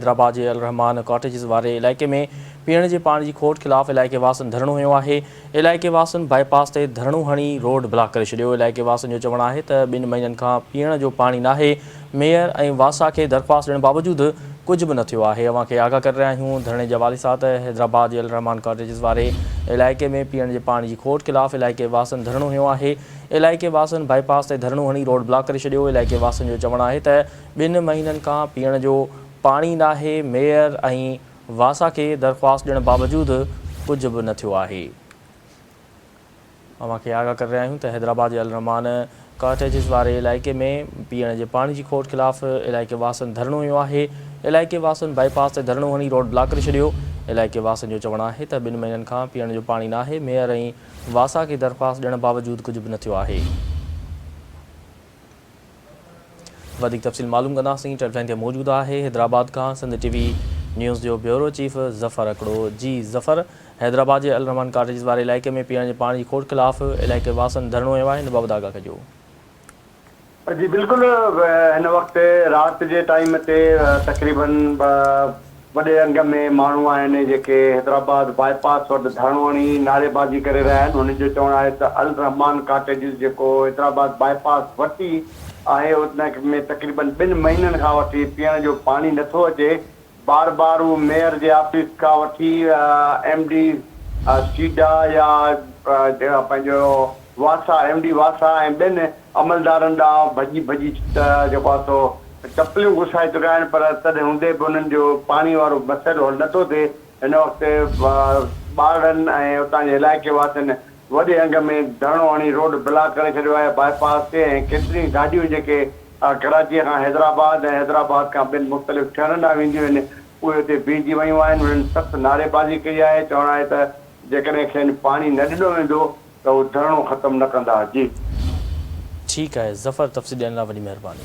حيدرآباد جي الرحمان ڪاٽيجز واري علائقي ۾ پيئڻ جي پاڻي جي کوٽ خلاف علائقي واسين ڌرڻو هنيو آهي، علائقي واسين بائي پاس تي ڌرڻو هڻي روڊ بلاڪ ڪري ڇڏيو، علائقي واسين جو چوڻ آهي ته ٻن مهينن کان پيئڻ جو پاڻي ناهي، ميئر ۽ واسا کي درخواست ڏيڻ باوجود ڪجهه به نه ٿيو آهي، اوهان کي آگاهه ڪري رهيا آهيون، ڌرڻي جي حوالي سان ته حيدرآباد جي الرحمان ڪاٽيجز واري علائقي ۾ پيئڻ جي پاڻي جي کوٽ خلاف علائقي واسين ڌرڻو هنيو آهي، علائقي واسين بائي پاس تي ڌرڻو هڻي روڊ بلاڪ ڪري ڇڏيو، علائقي واسين جو چوڻ آهي ته ٻن مهينن کان پيئڻ جو پاڻي ناهي، ميئر ۽ واسا کي درخواست ڏيڻ باوجود ڪجهه به نه ٿيو آهي. اوهان کي آگاهه ڪري رهيا آهيون ته حيدرآباد جي الرحمان ڪاٽيجز واري علائقي ۾ پيئڻ جي پاڻي جي کوٽ خلاف علائقي واسن ڌرڻو هنيو آهي، علائقي واسن بائي پاس تي ڌرڻو هڻي روڊ بلاڪ ڪري ڇڏيو، علائقي واسن جو چوڻ آهي ته ٻن مهينن کان پيئڻ جو پاڻي ناهي، ميئر ۽ واسا کي درخواست ڏيڻ باوجود ڪجهه به نه ٿيو آهي. وڌيڪ تفصيل معلوم ڪنداسين ٽيلفائن تي موجود آهي حيدرآباد کان سنڌ ٽي وي نيوز جو بيورو چيف ظفر اکڙو جي ظفر حيدرآباد جي الرحمان ڪاٽيجز واري علائقي ۾ پيئڻ جي پاڻي جي کوٽ خلاف علائقي واسن ڌرڻو هنيو آهي ان بابت آگاهه ڪجو. جي بلڪل هن وقت رات جي ٽائيم تي تقريبن وڏي انگ ۾ ماڻهو آهن جيڪي حيدرآباد باء پاس وٽ ڌرڻو هڻي نعريبازي ڪري رهيا آهن هنن جو چوڻ آهي ته الرحمان ڪاٽيجز جيڪو حيدرآباد باء پاس وٽ ئي آهي ان ۾ تقريبن ٻن مهينن کان وٺي پيئڻ جو پاڻي نٿو اچي بار بار هو ميئر جي آفيس کان وٺي ايم ڊي سيڊا يا پنهنجو واسا ايم ڊي واسا ۽ ٻين عملدارن ڏانهن ڀڄي ڀڄي ته جيڪو آهي سو چپليون گسائي چڪا آهن پر تڏهن هوندي به انهن جو پاڻي وارو مسئلو حل نٿو ٿئي، هن وقت ٻارڙن ۽ اتان جي علائقي واسين وڏي انگ ۾ ڌرڻو هڻي روڊ بلاڪ ڪري ڇڏيو آهي، باء پاس تي ۽ ڪيتريون ئي گاڏيون جيڪي ڪراچيء کان حيدرآباد ۽ حيدرآباد کان ٻين مختلف شهرن ڏانهن وينديون آهن اهي اتي بيهجي ويون آهن، انهن سخت نعريبازي ڪئي آهي، چوڻ آهي ته جيڪڏهن کين پاڻي نه ڏنو ويندو. ته اهي ڌرڻو ختم نه ڪندا جي. ٺيڪ آهي ظفر تفصيل ڏيڻ لاء وڏي مهرباني.